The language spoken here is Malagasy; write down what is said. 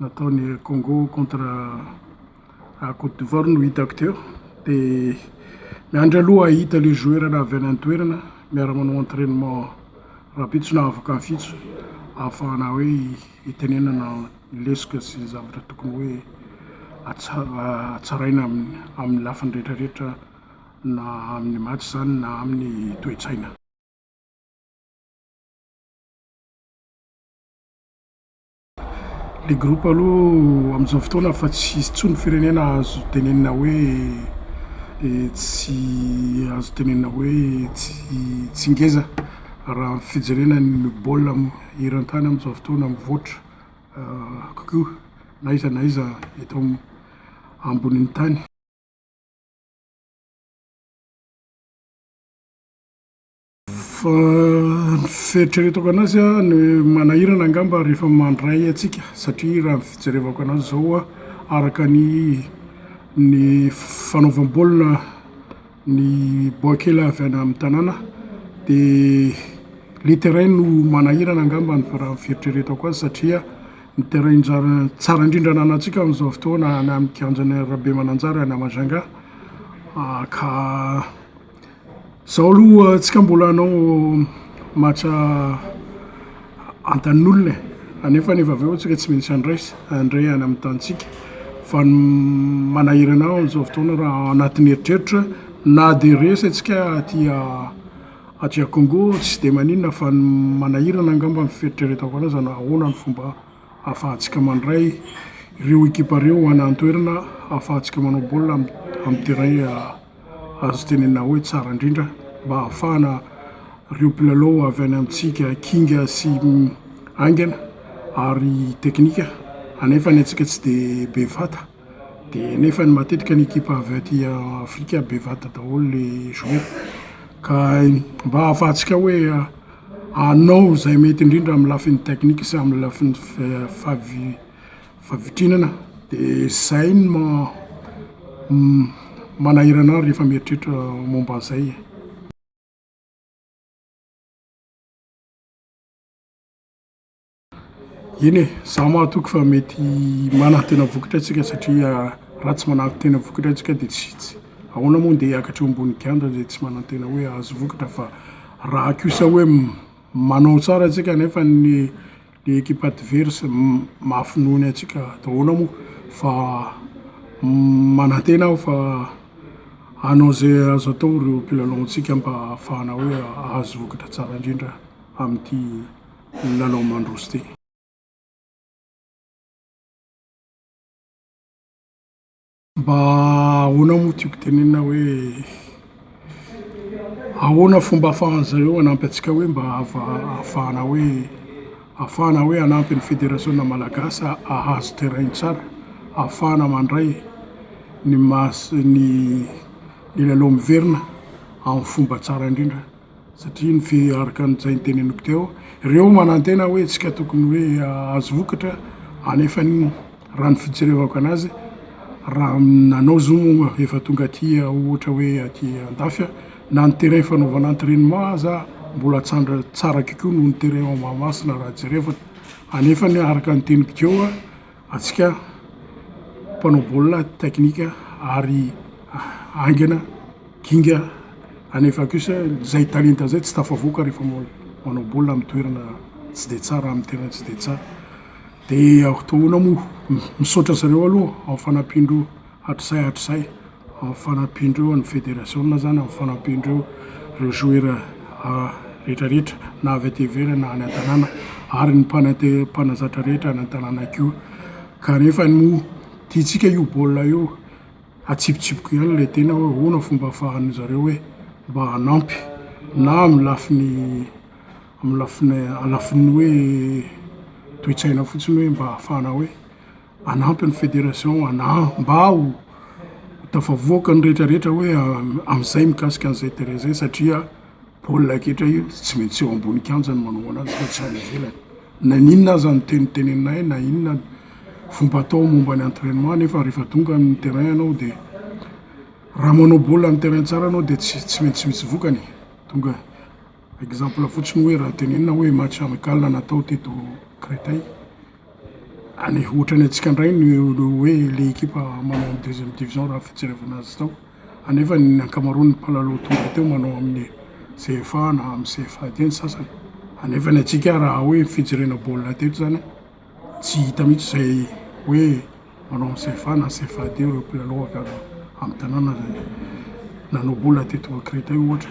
nataony Congo contre Côte d'Ivoire no hitako teo dia miandry aloha hahita le joueur na avy any an-toerana miara manao entrainement rahampitso na afaka hafitso ahafahana hoe hitenenana ny lesoka sy ny zavatra tokony hoe hatsaraina amin'ny lafiny rehetrarehetra na amin'ny match izany na amin'ny toe-tsaina. Le groupe aloha amin'izao fotoana efa tsy hisy intsony ny firenena azo tenenina hoe tsy azo tenenina hoe tsy ngeza raha ny fijerena ny baolina eran-tany amin'izao fotoana mivoatra kokoa na iza na iza eto ambonin'ny tany. Fa ny fieritreretako anazy a, ny manahirana angamba rehefa mandray antsika satria raha ny fijerevako anazy izao a, araka ny ny fanaovam-baolina ny baoikely avy any amin'ny tanàna dia le terrain no manahirana angamba ny raha ny fieritreretako azy satria ny terrain nja- tsara indrindra ananantsika amin'izao fotoana any amin'ny kianjan'i Rabemananjara any à Majunga ka. Zao aloha tsika mbola hanao match antanin'olona e, anefa anefa avy eo tsika tsy maintsy handray handray any amin'ny tanintsika fa ny manahirana ahy amin'izao fotoana raha ao anatin'ny eritreritra na de resy antsika aty aty a Congo tsy de maninona fa ny manahirana angamba ny fieritreretako anazy hanao ahoana ny fomba ahafahantsika mandray ireo ekipa ireo any an-toerana ahafahantsika manao baolina amin'ny terrain. Azo tenenina hoe tsara indrindra mba hahafahana ireo mpilalao avy any amintsika kinga sy haingana ary teknika anefa ny antsika tsy dia be vata dia nefa ny matetika ny ekipa avy aty Afrika be vata daholo ilay joueur ka mba hahafahantsika hoe hanao izay mety indrindra amin'ny lafiny teknika sy amin'ny lafiny favi- Fa vitrinana dia izay no manahirana ahy rehefa mieritreritra momba an'izay e. Eny e, izaho mahatoky fa mety manantena vokatra isika satria raha tsy manantena vokatra isika dia tsy tsy ahoana moa ndeha hiakatra eo ambony kianja izay tsy manantena hoe hahazo vokatra fa raha kosa hoe manao tsara isika nefa ny Ny equipe adverse mafy noho ny antsika daholo moa fa manantena aho fa hanao izay azo atao ireo mpilalaontsika mba hahafahana hoe hahazo vokatra tsara indrindra amin'ity lalao mandroso ity. Mba ahoana moa tiako tenenina hoe ahoana fomba ahafahan'ny zareo hanampy antsika hoe mba ahafahana hoe ahafahana hoe hanampy ny federasiona malagasy hahazo terrain tsara ahafahana mandray ny maha ny lalao miverina amin'ny fomba tsara indrindra. satria mifehy araka an'izay niteneniko teo ireo manantena hoe isika tokony hoe ahazo vokatra anefa ny raha ny fijerevako anazy raha nanao zo moa efa tonga aty ohatra hoe aty andafy aho na ny terrain fanaovana entrainement aza mbola tsandra tsara kokoa noho ny terrain ao Mahamasina raha jerevana anefa ny araka ny teniko teo antsika mpanao baolina teknika ary haingana, ginga anefa kosa izay talenta izay tsy tafavoaka rehefa manao baolina amin'ny toerana tsy dia tsara, amin'ny terrain tsy dia tsara. Dia ahoana moa? Misaotra an'i zareo aloha amin'ny fanampian-dreo. hatrizay hatrizay amin'ny fanampian'ireo an'ny federasiona izany, amin'ny fanampian'ireo ireo joueurs rehetra rehetra na avy aty ivelany na any an-tanàna ary ny mpanate- mpanazatra rehetra any an-tanàna koa. Kanefa moa tiantsika io baolina io, atsipitsipiko ihany ilay tena hoe ahoana fomba ahafahan'ny zareo hoe mba hanampy na amin'ny lafiny amin'ny lafiny a- lafiny hoe toe-tsaina fotsiny hoe mba hahafahana hoe. Hanampy ny Fédération hanaha mba ho tafavoaka ny rehetra rehetra hoe amin'izay mikasika an'izay terrain izay satria baolina kitra io tsy maintsy eo ambony kianja ny manao anazy fa tsy any ivelany. Na inona aza ny teny teneninay na inona ny fomba atao momba ny entrainement nefa rehefa tonga amin'ny terrain ianao dia raha manao baolina amin'ny terrain tsara ianao dia tsy tsy maintsy misy vokany e. Tonga exemple fotsiny hoe raha tenenina hoe match amical natao teto Créteil Any ohatran'ny antsika indray ny hoe ilay ekipa manao ny deuxième division raha ny fijerevana azy tao. Anefa ny ankamaroan'ny mpilalao tonga teo manao amin'ny CFA na amin'ny CFA dia ny sasany. Anefa ny antsika raha hoe fijerena baolina teto izany tsy hita mihitsy izay hoe manao amin'ny CFA na CFA dia ireo mpilalao avy any amin'ny tanàna nanao baolina teto Créteil ohatra.